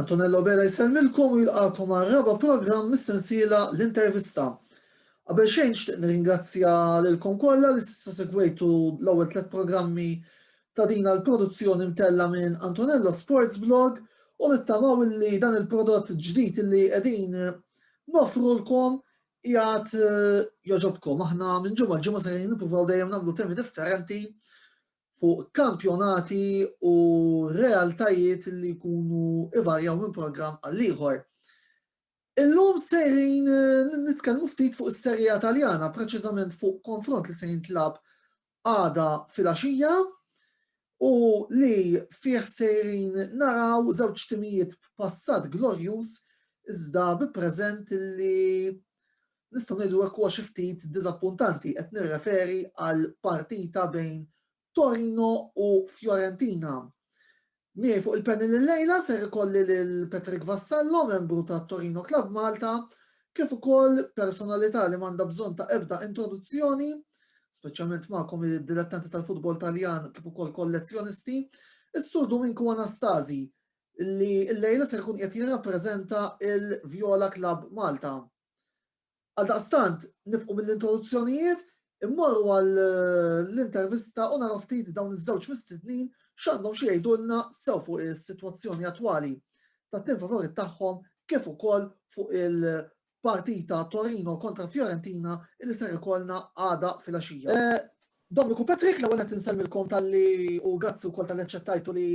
Antonello Bela jsellmilkom u jilqakom għal raba programm mis-sensiela l-intervista. Qabel xejn xtieq nirringrazzja lilkom kollha li s'issa segwejtu l-ewwel tliet programmi ta' din l-produzzjoni mtella minn Antonello Sports Blog u nittamaw li dan il-prodott ġdid li qegħdin nofrulkom jgħat eh, joġobkom. Aħna minn ġimgħa ġimgħa se nippruvaw dejjem nagħmlu temi differenti fuq kampjonati u realtajiet li jkunu ivarjaw minn programm għal ieħor. Illum sejrin eh, nitkellmu ftit fuq is-serja Taljana, preċiżament fuq konfront li se jintlab għada fil-axija u li fih sejrin naraw żewġ timijiet b'passat glorjus iżda bi preżent li Nistgħu ngħidu hekk huwa xi ftit diżappuntanti, qed nirreferi għal partita bejn Torino u Fiorentina. Miegħi fuq il-panel il-lejla ser ikolli lil Patrick Vassallo, membru ta' Torino Club Malta, kif ukoll personalità li m'għandha bżonn ta' ebda introduzzjoni, speċjalment magħkom id-dilettanti tal-futbol Taljan kif ukoll kollezzjonisti, is-Sur Duminku Anastasi, li l-lejla ser ikun qed jirrappreżenta il-Viola Club Malta. Għaldaqstant, nifqu mill-introduzzjonijiet, immorru għall-intervista u naraw ftit dawn iż-żewġ mistednin x'għandhom xi jgħidulna sew fuq is-sitwazzjoni attwali tat-tim favorit tagħhom kif ukoll fuq il-partita Torino kontra Fiorentina li ser ikollna għada fil-għaxija. Eh, Dominiku Patrick, l-ewwel qed insellmilkom talli u grazzi wkoll tal-li aċċettajtu li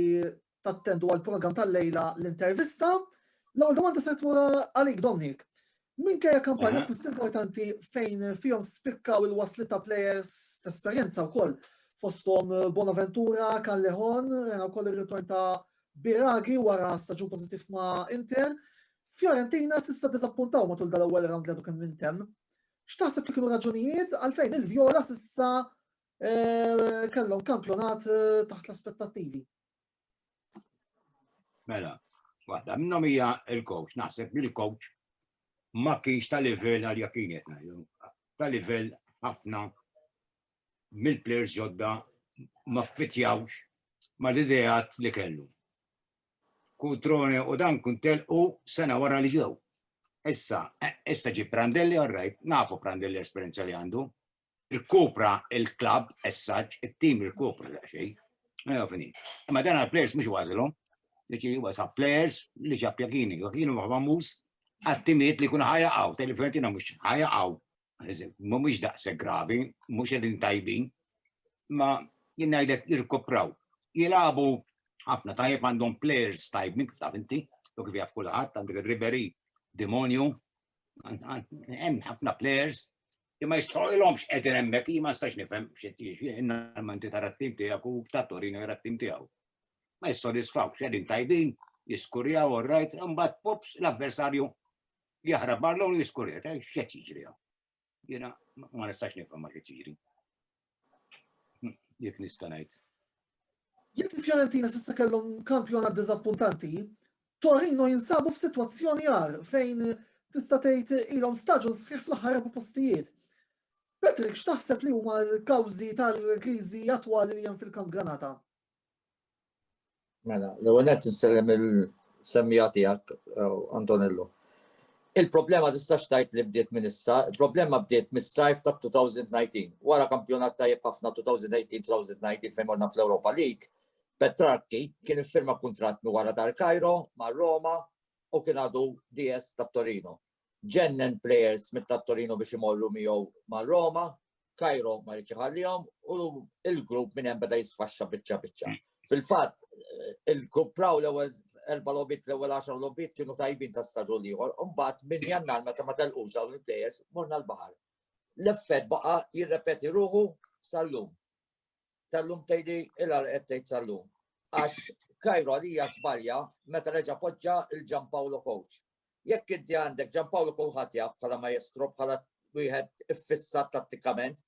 tattendu għall-programm tal-lejla l-intervista. L-ewwel domanda se tmur għalik Dominic. Minkejja kampanja akkwist importanti fejn fihom spikkaw il-wasli ta' players ta' esperjenza wkoll fosthom Bonaventura, Callejon, rena wkoll ir-ritorn ta' Biragi wara staġun pożittiv ma' Inter. Fiorentina s'issa diżappuntaw matul dal-ewwel round li għadu kemm intemm. X'taħseb li kienu raġunijiet għalfejn il-Vjola s'issa kellhom kampjonat taħt l-aspettattivi? Mela, waħda minnhom hija il-coach, naħseb li l-coach ma kienx ta' livell għal jakin ta' livell ħafna mill-players ġodda ma fitjawx ma l-idejat li kellu. Kutrone u dan kun telqu sena wara li ġew. Issa, issa ġi Prandelli għarrajt, nafu Prandelli esperienza li għandu, Irkupra il-klabb as such, it-tim irkupra daqsxejn. Ejja fini. Imma dan għall-players mhux ważilhom. Ġifieri huwa sa players li ġab Jakini, Jakini huwa famuż għat-timiet li jkun ħajaqgħu, tgħid li Fiorentina mhux ħajaqgħu. Mhumiex daqshekk gravi, mhux qegħdin tajbin, ma jien ngħidlek jirkupraw. Jilagħbu ħafna tajjeb għandhom players tajbin kif taf inti, u kif jaf kulħadd għandek Ribery, Demonju, hemm ħafna players Li ma jistħoqilhomx qegħdin hemmhekk jien ma nistax nifhem x'inti tara t-tim tiegħek u ta' Torino jara t-tim tiegħu. Ma jissodisfaw x'qegħdin tajbin, jiskurjaw u rajt, imbagħad pops l-avversarju jaħrab barlon u jiskurja, x'qed jiġri hawn. Jiena ma nistax nifhem ma x'qed jiġri. Jek nista' ngħid. Jekk il-Fiorentina s'issa kellhom kampjonat diżappuntanti, Torino jinsabu f'sitwazzjoni għar fejn tista' tgħid ilhom staġun sħiħ fl-aħħar erba' postijiet. Patrick, x'taħseb li huma l-kawżi tal-kriżi attwali li hemm fil-Kamp Granata? Mela, l-ewwel qed nistellem il-semmija tiegħek eh, Antonello. Il-problema tistax tajt li bdiet minn issa, il-problema bdiet mis-sajf ta' 2019. Wara kampjonat tajjeb ħafna 2018-2019 fejn morna fl-Europa League, Petrarki kien iffirma kuntratt mi wara tal-Kajro ma' Roma u kien għadu DS ta' Torino. ġennen players mit ta' Torino biex imorru miegħu ma' Roma, Kajro ma rridx iħallihom u il-grupp minn hemm beda jisfaxxa biċċa biċċa. Fil-fatt, il-kupraw l-ewwel erba' lobit l-ewwel 10 lobit kienu tajbin ta' staġun ieħor, u mbagħad minn jannar meta ma telqux dawn il-plejers morna l-baħar. L-effett baqa' jirrepeti ruħu sal-lum. tal-lum tgħidi il għal qed tgħid tal-lum. Għax Kajro għalija żbalja meta reġa' poġġa il Paolo Coach. Jekk inti għandek Paolo kulħadd jaf bħala maestro bħala wieħed iffissat tattikament,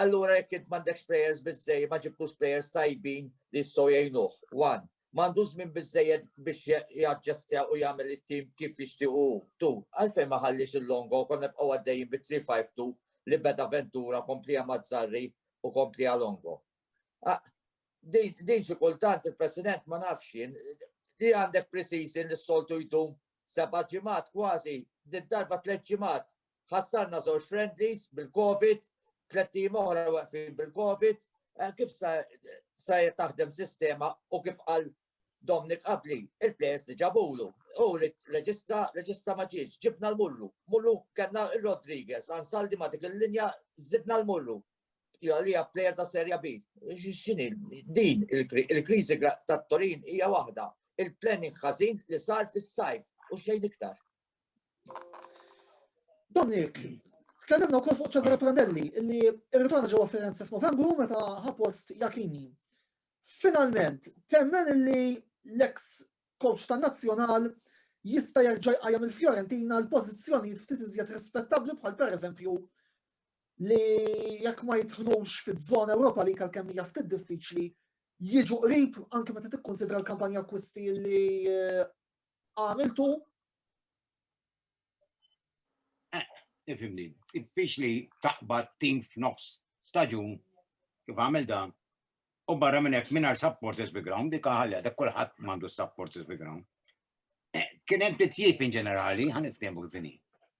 allura jekk int m'għandekx players biżej ma ġibtux players tajbin li jistgħu jgħinuh. One. m'għandux żmien biżżejjed biex jaġġestja u jagħmel it-tim kif jixtieq hu. Tu, għalfejn ma ħalliex il-Longo u konna nibqgħu għaddejjin bi 3-5-2 li beda Ventura kompliha Mazzarri u kompliha Longo. Din xi kultant il-President ma nafx jien li għandek pre-season li s-soltu jdum seba' ġimgħat kważi, did-darba tliet ġimgħat ħassarna żewġ friendlies bil-Covid, tliet tim oħra waqfin bil-Covid, eh, kif sa sa taħdem sistema u kif qal Dominic qabli, il-players li ġabulu, u reġista, reġista maġiġ, ġibna l-mullu, mullu kena il-Rodriguez, għansaldi ma dik il-linja, zidna l-mullu, li player ta' serja B. Xini, din il-krizi ta' Torin hija waħda, il-planning ħażin li sar fis-sajf u xejn iktar. Dominik, tkellimna wkoll fuq Cesare Prandelli li rritorna ġewwa Firenze f'Novembru meta ħa post Jakini. Finalment, temmen li l-eks coach tan-Nazzjonal jista' jerġa' jqajjem il-Fiorentina għal pożizzjonijiet ftit iżjed rispettabbli bħal pereżempju li jekk ma jidħlux fiż-żona Ewropa li għalkemm hija ftit diffiċli jiġu qrib anke meta tikkunsidra l-kampanja akkwisti li eh, għamiltu Ifimni, fiex li taqbad tim f'nofs staġun kif għamil dan, u barra minn hekk mingħajr supporters bi ground, dik ħalja dak kulħadd m'għandu supporters bi ground. Eh, kien hemm titjib in ġenerali, ħan niftehmu kif inhi.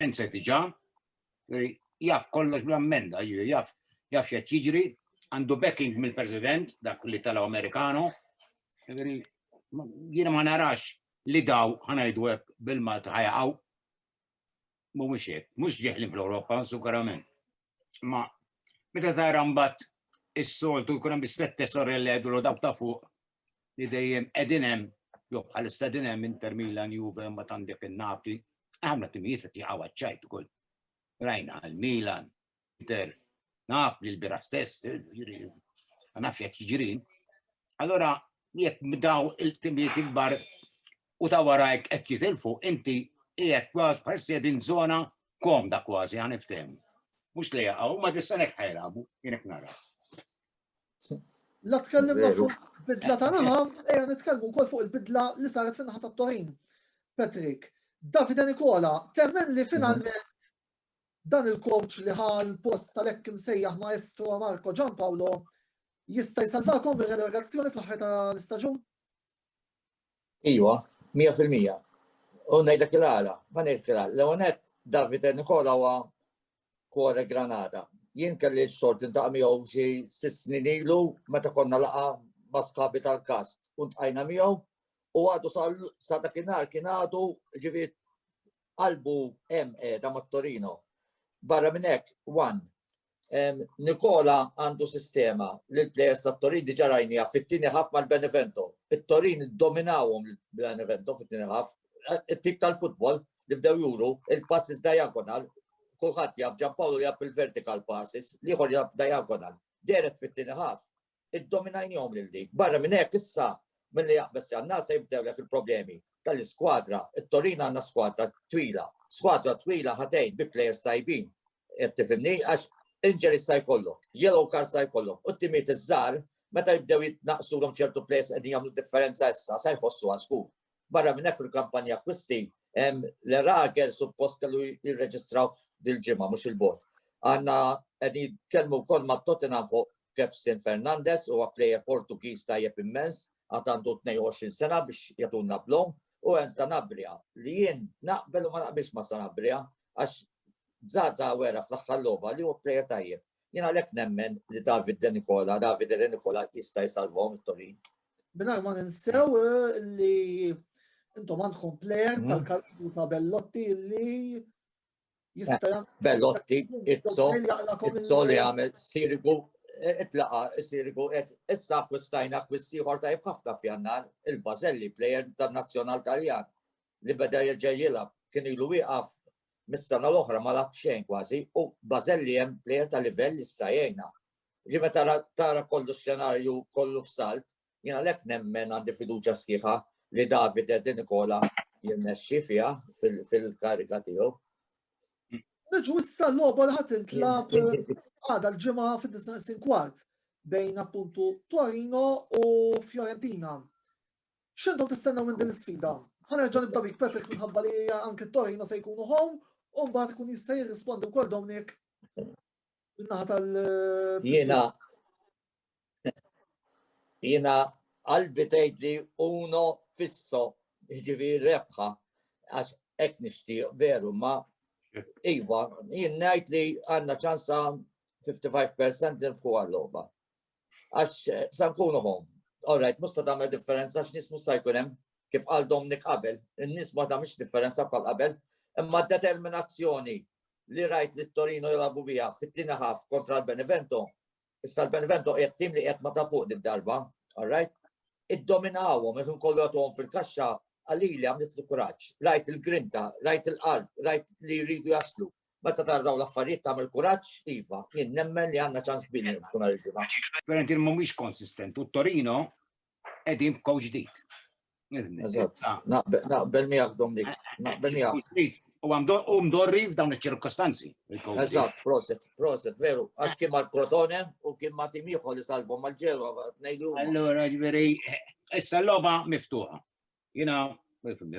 sense diġa, jaf kollox bl-ammenda, jaf jaf xed jiġri, għandu backing mill-President, dak li tala Amerikano, jiena ma narax li daw ħanajdu hekk bil-Malta ħajaqgħu. Mhumiex hekk, mhux ġeħlin fl-Ewropa, sukarament. Ma meta tara mbagħad is-soltu jkun hemm is-sette sorelle għedulu dawk ta' fuq li dejjem qegħdin hemm jew bħalissa din hemm Inter Milan Juve ma tandek in-Napli, għamla timijiet qed jaqgħu għaċ-ċajt ukoll. Rajna għal Milan, Inter, Napli l-bira stess, ma nafx qed jiġri. Allora jekk daw il-timijiet ikbar u ta' warajk qed jitilfu, inti qiegħed kważi bħal qegħdin żona komda kważi għan iftem. Mhux li jaqgħu, ma tistanek ħajlabu, jinek nara. La tkellimna fuq bidla ta' naħa, ejja nitkellmu wkoll fuq il-bidla li saret fin naħa ta' Torin. Patrick, Davide Nikola, temmen li finalment dan il-coach li ħal post tal-ekk imsejjaħ maestro Marco Giampaolo jista' jsalvakom ir-relegazzjoni fl-aħħar tal-istaġun? Iwa, 100%. U ngħidlek il-għala, ma ngħidlek il-għala. L-ewwel nett Davide Nikola huwa kore Granada. Jien kelli x-xogħol tintaqa' miegħu xi sitt snin ilu meta konna laqa ma' sħabi tal-kast u ntqajna miegħu u għadu sa dakinhar kien għadu ġifieri qalbu hemm qiegħda mat-Torino. Barra minn hekk, Wan, Nikola għandu sistema li l-plejers tat-Torin diġà rajnija fit-tieni ħaf mal-Benevento. It-Torin dominawhom l-Benevento fit-tieni ħaf. It-tip tal-futbol li bdew juru, il-passes diagonal, kulħadd jaf Ġan Pawlu jaf il-vertical passes, liħor jaf diagonal. Deret fit-tieni ħaf iddominajnihom lil dik. Barra minn hekk issa milli jaqbeż jannar se jibdew lek il-problemi tal-iskwadra. It-Torina għandna skwadra twila. Skwadra twila ħatejn bi plejers tajbin. Qed tifhimni għax inġeri sa jkollok, yellow card sa jkollok, u t-timiet iż-żgħar meta jibdew jitnaqsulhom ċertu plejers qegħdin jagħmlu differenza issa se jħossu għasku. Barra minn hekk fil-kampanja akkwisti l-Erager suppost kellu jirreġistraw dil-ġimgħa mhux il-bot. Għanna qegħdin jitkellmu wkoll ma' Tottenham fuq Kepsin Fernandez u plejer Portugiż tajjeb immens għad għandu 22 sena biex jagħtuna blom u hemm Sanabria li jien naqbel u ma naqbilx ma' Sanabria għax Zaza wera fl-aħħar logħba li huwa plejer tajjeb. Jien għalhekk nemmen li David De Nikola, David De Nikola jista' jsalvom it-Torin. Minar ma ninsew eh, li intom għandkom plejer mm. tal-kalbu ta' Bellotti li jista' eh, Bellotti, Izzo, Izzo li għamil sirigu eh, itlaqa sirigu et issa kwistajna kwissiħor ta' ħafna fjannar il-Bazelli plejer tal-Nazzjonal Taljan li beda jirġa jilab kien ilu wieqaf mis-sena l-oħra ma lab xejn kważi u Bazelli hemm plejer ta' livell issa jgħinna Ġi meta tara kollu xenarju kollu f'salt, jina lek nemmen għandi fiduċa sħiħa li David Di Nikola jirnexxi fiha fil-kariga tiegħu. Niġu issa l-logħba li ħadd intlab għada l-ġimgħa fid-disnaqsin kwart bejn appuntu Torino u Fiorentina. X'intom tistennew minn din l-sfida? Ħanerġa' nibda bik Patrick minħabba li anke Torino se jkunu home u mbagħad ikun jista' jirrispondi wkoll Dominic Minnaħa tal. Jiena. Jiena qalbi tgħid li uno fisso ġivi rebħa għax hekk nixtieq veru ma iva jien ngħid li għandna ċansa 55% li nfħu għal-logħba. Għax sa nkunu home. All right, musta tagħmel differenza għax nies musta jkun hemm kif qal Domnik qabel, in-nies ma tagħmilx differenza bħal qabel, imma determinazzjoni li rajt li Torino jilagħbu biha fit-tieni ħaf kontra l-Benevento, issa l-Benevento qiegħed tim li qiegħed ma ta' fuq dik darba, all right? Iddominawhom ikun kollu għatuhom fil-kaxxa għalili għamlet l-kuraġġ, rajt il-grinta, rajt il-qalb, rajt li jridu jaslu, Meta tara dawn l-affarijiet tagħmel kuraġġ, iva, jien nemmen li għandna ċans kbir nirbħu nhar il-ġimgħa. Fiorentina mhumiex konsistent u Torino qegħdin b'kow ġdid. Naqbel miegħek Dominik, naqbel miegħek. U għandhom dorri f'dawn iċ-ċirkostanzi. Eżatt, proset, proset, veru. Għax kien ma' Crotone u kien ma' timiħu li salbhom mal-ġewa, tnejlu. Allora, ġveri, issa l-loba miftuħa. Jiena,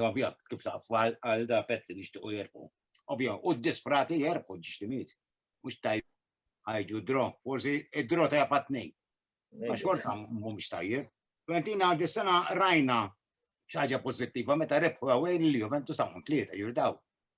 ovvja, kif taqaf għal da pezz li nixtiequ jerbħu. Ovvja, u d-disprati jerbħu ġiġtimiet. Mhux tajb ħajġu dro, forsi id-dro ta' japat nej. Ma xorta mhumiex tajjeb. Fiorentina għaddi sena rajna xaġa pozittiva meta rebħu għawajn li Juventus ta' tlieta jirdaw.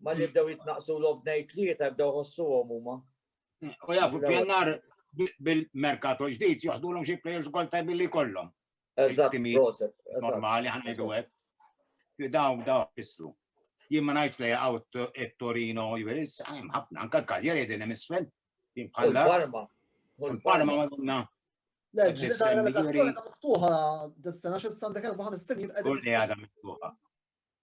Ma li bdew jitnaqsu l-ob nej tlieta bdew ħossu għom huma. U jafu fjannar bil-merkato ġdid joħdu l-om xie players kol tajbi li kollom. Eżatt, normali ħanna jdu għed. Daw, daw, fissru. Jien ma najt play out et Torino, jiviris, għajm ħafna, anka kaljeri din emisfel. Jien bħalla. Parma. Parma ma dunna. Le, ġdida ta' relokazzjoni ta' miftuħa, dis-sena xis-sandek 54 jibqa' għadha miftuħa.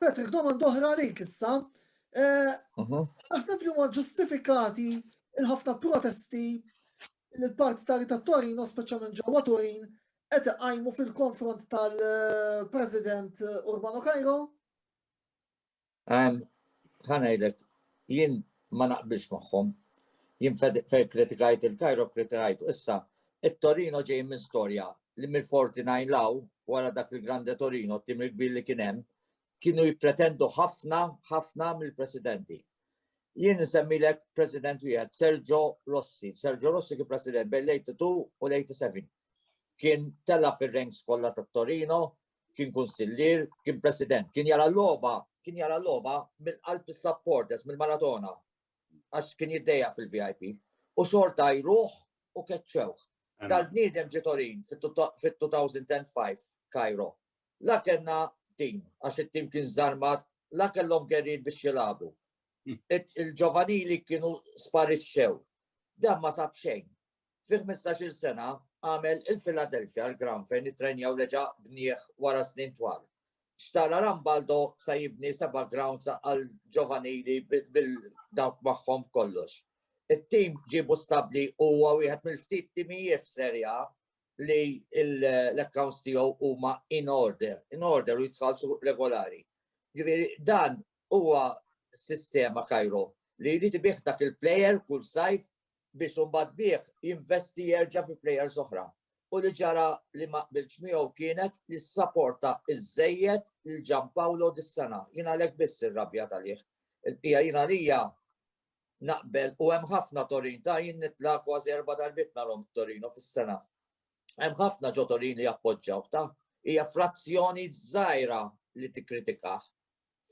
Patrick, domanda oħra għalik issa. Eh, mhm. Naħseb li huma ġustifikati il-ħafna protesti li l-parti ta' Rita Torino, speċjalment ġewwa Turin, qed iqajmu fil-konfront tal-President Urbano Cairo? Ħanajdlek, jien ma naqbilx magħhom. Jien fejn kritikajt il-Cairo kritikajt issa It-Torino ġej minn storja li mill-'49 'l hawn, wara dak il-Grande Torino, t-tim il-kbir li kien hemm, kienu jippretendu ħafna, ħafna mill-presidenti. Jien insemmilek president wieħed, Sergio Rossi. Sergio Rossi kien president bejn l-82 u l-87. Kien tela' fir-ranks kollha tat-Torino, kien kunsillier, kien president, kien jara l-logħba, kien jara l-logħba mill-qalb is-supporters, mill-Maratona. għax kien jiddejja fil-VIP, u xorta jruħ u keċċewħ. Dal-bniedem ġitorin fit-2005 Kajro. La kellna tim, għax it-tim kien zarmat, la kellhom gerin biex jilabu. Hmm. Il-ġovanili kienu sparixxew. Dan ma sab xejn. Fi ħmistax-il sena għamel il-Philadelphia l-ground fejn ittrenja u reġa' bnieh wara snin twal. Xtara Rambaldo sa jibni seba' grounds għall-ġovanili bil dawk magħhom kollox. It-tim ġiebu stabbli u huwa wieħed mill-ftit timijiet f'Serie A li l-accounts tiegħu huma in order, in order u jitħallsu regolari. Ġifieri dan huwa sistema Cairo li jrid ibih dak il-plejer kull sajf biex imbagħad bih jinvesti jerġa' fi plejers oħra. U li ġara li ma qbilx miegħu kienet li ssaporta iżżejjed lil Gianpaolo dis-sena. Jien għalhekk biss irrabja talih. Il-bqija jien għalija naqbel u hemm ħafna Torin ta' jien nitla' kważi erba' darbiet narhom Torino fis-sena. Hemm ħafna ġo Torin li jappoġġaw ta' hija frazzjoni żgħira li tikkritikah.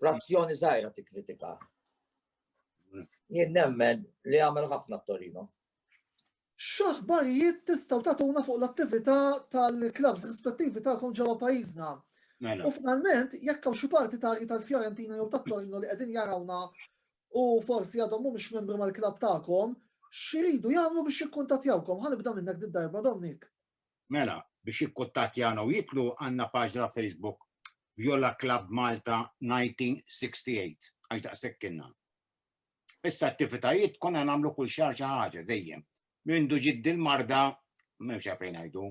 frazzjoni zaħira ti kritika. Jien nemmen li għamel ħafna t-Torino. Xaħbarijiet tistaw tatuna fuq l-attività tal-klabs rispettivi tagħkom ġewwa pajjiżna. Mela. U finalment, jekk hawn xi partitarji tal-Fiorentina jew tat-Torino li qegħdin jarawna u forsi għadhom mhumiex membri mal-klab tagħkom, xiridu jagħmlu biex jikkuntattjawkom. Ħanibda minnek d-darba Dominik. Mela, biex jikkuttattjana u jidħlu għandna paġna Facebook Viola Club Malta 1968 għax daqshekk kienna. Issa attivitajiet konna nagħmlu kull xahar xi ħaġa dejjem. Mindu ġiet dil-marda m'hemmx għalfejn ngħidu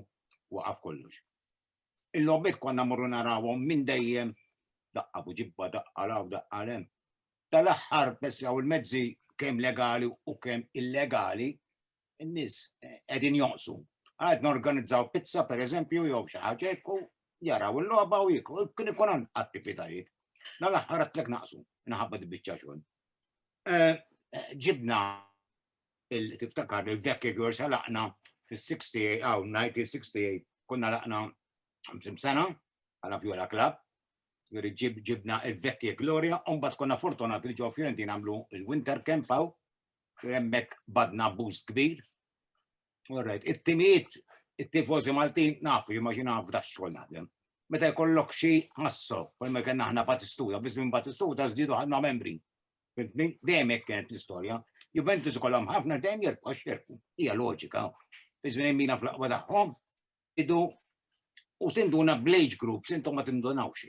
waqaf kollox. Il-logħbiet konna morru narawhom minn dejjem daqqa buġibba daqqa law daqqa lem. Tal-aħħar bes jaw il-mezzi kemm legali u kemm illegali n-nies qegħdin jonqsu. Għad norganizzaw pizza per eżempju jew xi ħaġa jekku jaraw il-logħba u jekku kien ikun hemm attivitajiet. Na l-aħħar għatlek naqsu, naħabba dibbiċċa xogħol. Eh, eh, ġibna tiftakar il-vekki għors għalaqna fil-68, għaw, 1968, konna laqna 50 sena, għala Viola Club, juri ġibna il-vekki Gloria, un bat konna fortunat li ġo Fiorentina għamlu il-Winter Camp għaw, hemmhekk badna abbuż kbir. Alright, it-timijiet, it-tifożi Maltin nafu li ma xina f'da xogħol naħdem. Meta jkollok xi ħassu, kull ma kien aħna Batistuta, biss minn Batistuta żdiedu ħadna membri. Dejjem hekk kienet l-istorja. Juventus kollhom ħafna dejjem jerbu għax jerbu. Hija loġika. Fi żmien mina fl-aqwa tagħhom idu u tinduna bl-age groups intom ma tindunawx.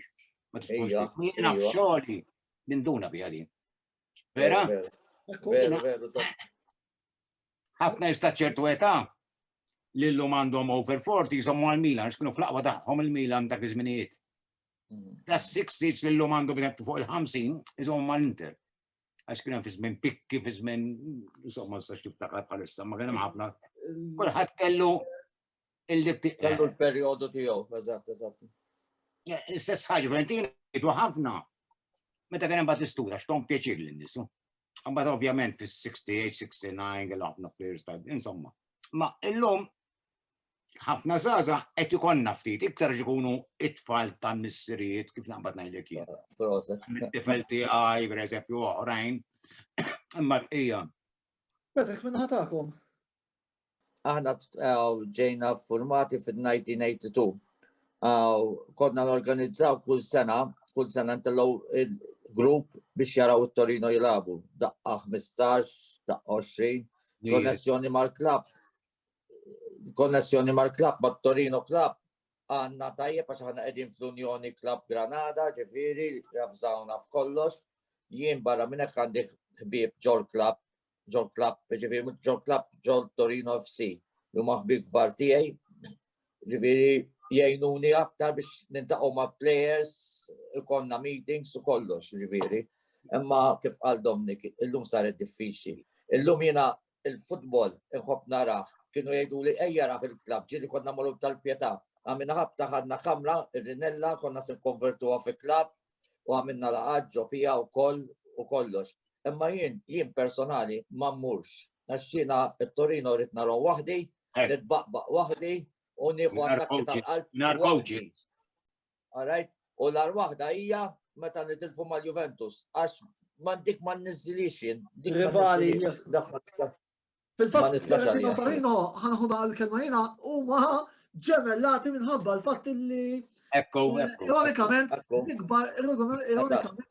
Ma tkunx jiena f'xogħli ninduna biha din. Vera? Vera, vera, ħafna jista ċertu età li l-lum għandhom over 40 jżommu għal-Milan, xkunu fl-aqwa taħħom il-Milan dak iż-żminijiet. Mm. Da 60 li l-lum għandhom bħet fuq il-50 jżommu għal-Inter. Għax kien fi żmien pikki, fi żmien insomma s-sax tiftakar bħalissa, ma kien hemm ħafna. Kulħadd kellu Illi kellu l-perjodu tiegħu, eżatt, eżatt. L-istess ħaġa Valentina jgħidu ħafna meta kien hemm Battistura x'tom pjaċir lin nisu. Mbagħad ovvjament fis-68, 69 għal ħafna players ta' insomma. Ma illum ħafna zaza qed ikonna ftit iktar ikunu it-tfal ta' missirijiet kif naqbad ngħidlek jien. It-tifel tiegħi pereżempju oħrajn imma l-qija. Petek minn ħatakom. Aħna ġejna formati fil-1982. Kodna n-organizzaw kull sena, kull sena ntellaw il-grupp biex jaraw il-Torino jilabu. Daqqa 15, daqqa 20, konnessjoni mal-klab. Konnessjoni mal-klab, ma' Torino klab. Għanna tajjeb għax għanna edin fl-Unjoni Klab Granada, ġifiri, għafżawna f'kollox. Jien barra minnek għandi ħbib ġol klab ġol klab, ġifiri ġol klab ġol Torino FC, li huma ħbib kbar tiegħi, ġifiri jgħinuni aktar biex nintaqgħu ma' players, konna meetings u kollox, ġifiri. Imma kif qal Domnik, illum saret diffiċli. Illum jiena il-futbol inħobb naraħ, kienu jgħidu li ejja raħ il-klab, ġiri konna morru tal-pjeta. Għamina ħabta ħadna kamra, il-rinella, konna se konvertuha fi klab, u għamilna laqgħat ġo fiha wkoll u kollox. Imma jien jien personali ma mmurx għax jiena t-Torino rrid narhom waħdi, eh. nitbaqbaq waħdi u nieħu attakki tal-qalb. Nar kowċi. Alright, u l-ar waħda hija meta nitilfu mal-Juventus għax ma dik ma nniżilix jien. Rivali. Fil-fatt, kelma oħrajn ħanħu naqa' l-kelma jiena huma ġemellati minħabba l-fatt li Ekku, ekku. Ironikament, ikbar, ironikament,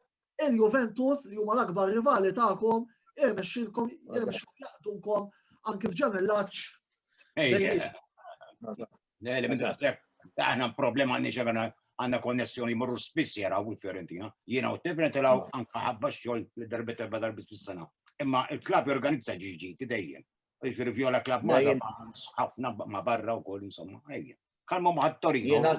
il-Juventus li huma l-akbar rivali tagħkom irnexxilkom irnexxilkom jaqdukom anke f'ġemellaċ. Aħna problema għandni xemena għanna konnessjoni morru spiss jaraw u Fiorentina. Jiena u Tifren tilaw anka ħabba xol li darbet erba darbi fis-sena. Imma il-klab jorganizza ġiġi dejjem. Ġifiri viola klab ma ħafna ma barra u koll insomma. Kalmu ma ħattori. Jiena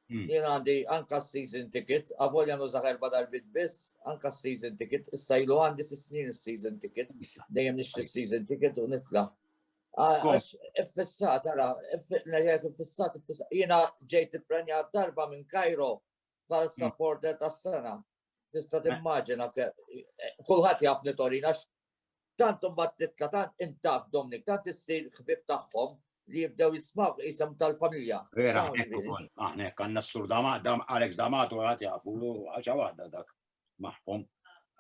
hmm. għandi anka season ticket, għavolja nużaħ erba darbit biss, anka season ticket, issa ilu għandi s-snin season ticket, dejjem nixtri season ticket u nitla. Għax iffissat, għara, nerjek iffissat, iffissat. Jena ġejt il-prenja darba minn Kajro bħal mm. supporter ta' sena. Tista eh. timmaġina, eh, kullħat jafni Torina, tant mbagħad titla tant intaf Dominik, tant issir ħbib tagħhom li jibdew jismaw jisem tal-familja. Vera, aħna għanna s-sur Alex Damato għat jafu, għaxa għadda dak. magħhom.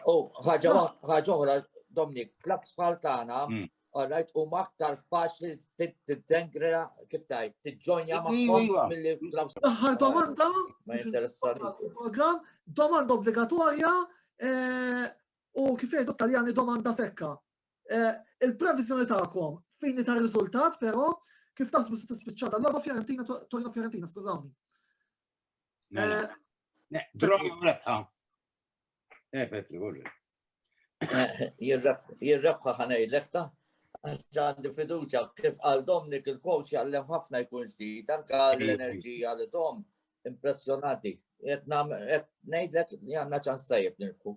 U ħaġa oħra, Dominik, klabs bħal tagħna, mm. għarrajt u maktar faċli t-dengra kif tajt, t-ġonja maħħom mill-li klabs. Daħħar domanda, ma jinteressani. Program, domanda obbligatorja, eh, u kif jgħidu taljani domanda sekka. Eh, il-previzjoni ta'kom fini ta' riżultat, però kif tasbu se tispiċċata l-logħba Fiorentina, Torino Fiorentina, skużawni. Mela. Eh, Petri, għurri. Jirrebħa ħanajlek ta' għandi fiduċa kif għal Domnik il-coach jgħallem ħafna jkun ġdid, anka l-enerġija li dom impressionati. Nejdlek li għanna ċans tajib nirħu.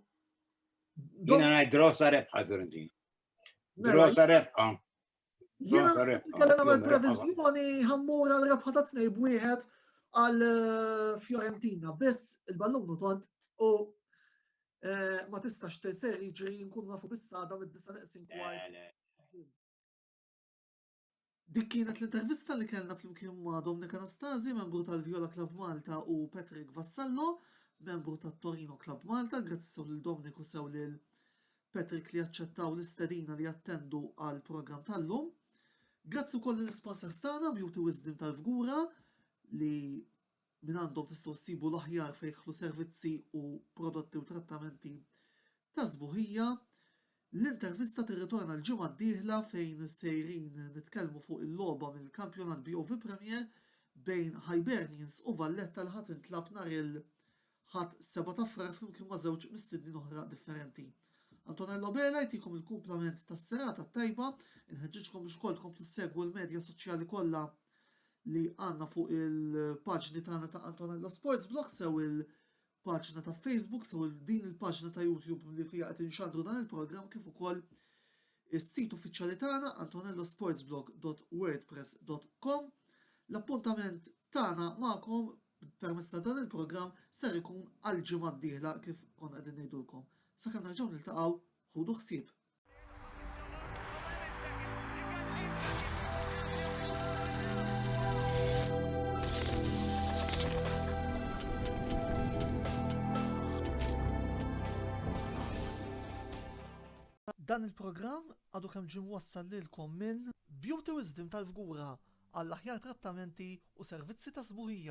Jina għaj grossa rebħa, Fiorentina. Mela, grossa rebħa. Jena kellha nagħmel previżjoni ħammur għal rebħa ta' tnej b'wieħed għal eh, Fiorentina biss il-ballun u tont u eh, ma tistax teser jiġri nkun nafu bis-sada mid-disa neqsin kwart. Dik kienet l-intervista li kellna flimkien ma' Dominik Anastasi, membru tal-Viola Club Malta u Patrick Vassallo, membru tat-Torino Club Malta, grazzi sew lil Dominiku sew lil Patrick li aċċettaw l-istedina li jattendu għall-programm tal-lum. Grazzi wkoll l-sponsors tagħna Beauty Wisdom tal-Fgura li minn għandhom tistgħu ssibu l-aħjar fejħlu servizzi u prodotti u trattamenti ta' żbuħija. L-intervista tirritorna l-ġimgħa d-dieħla fejn sejrin nitkellmu fuq il-logħba mill-kampjonat BOV Premier bejn Hibernians u Valletta l ħadd intlab nhar il- Ħadd 7 ta' Frar flimkien ma' żewġ mistednin oħra differenti. Antonello Bela jtikom il-kumplament tas-serata t-tajba, inħeġġiġkom biex ukoll tkomplu ssegwu l-medja soċjali kollha li għandna fuq il-paġni tagħna ta' Antonello Sports Blog sew il- paġna ta' Facebook sew din il-paġna ta' YouTube li fija qed inxandru dan il-programm kif ukoll is-sit uffiċjali tagħna antonellosportsblog.wordpress.com. L-appuntament tagħna magħkom Permezz ta' dan il-programm ser ikun għall-ġimgħa d-dieħla kif konna qegħdin ngħidulkom. Sakemm nerġgħu niltaqgħu, ħudu ħsieb! Dan il-programm għadu kemm ġim wassal lilkom minn Beauty Wisdom tal-Fgura għall-aħjar trattamenti u servizzi ta' sbuħija.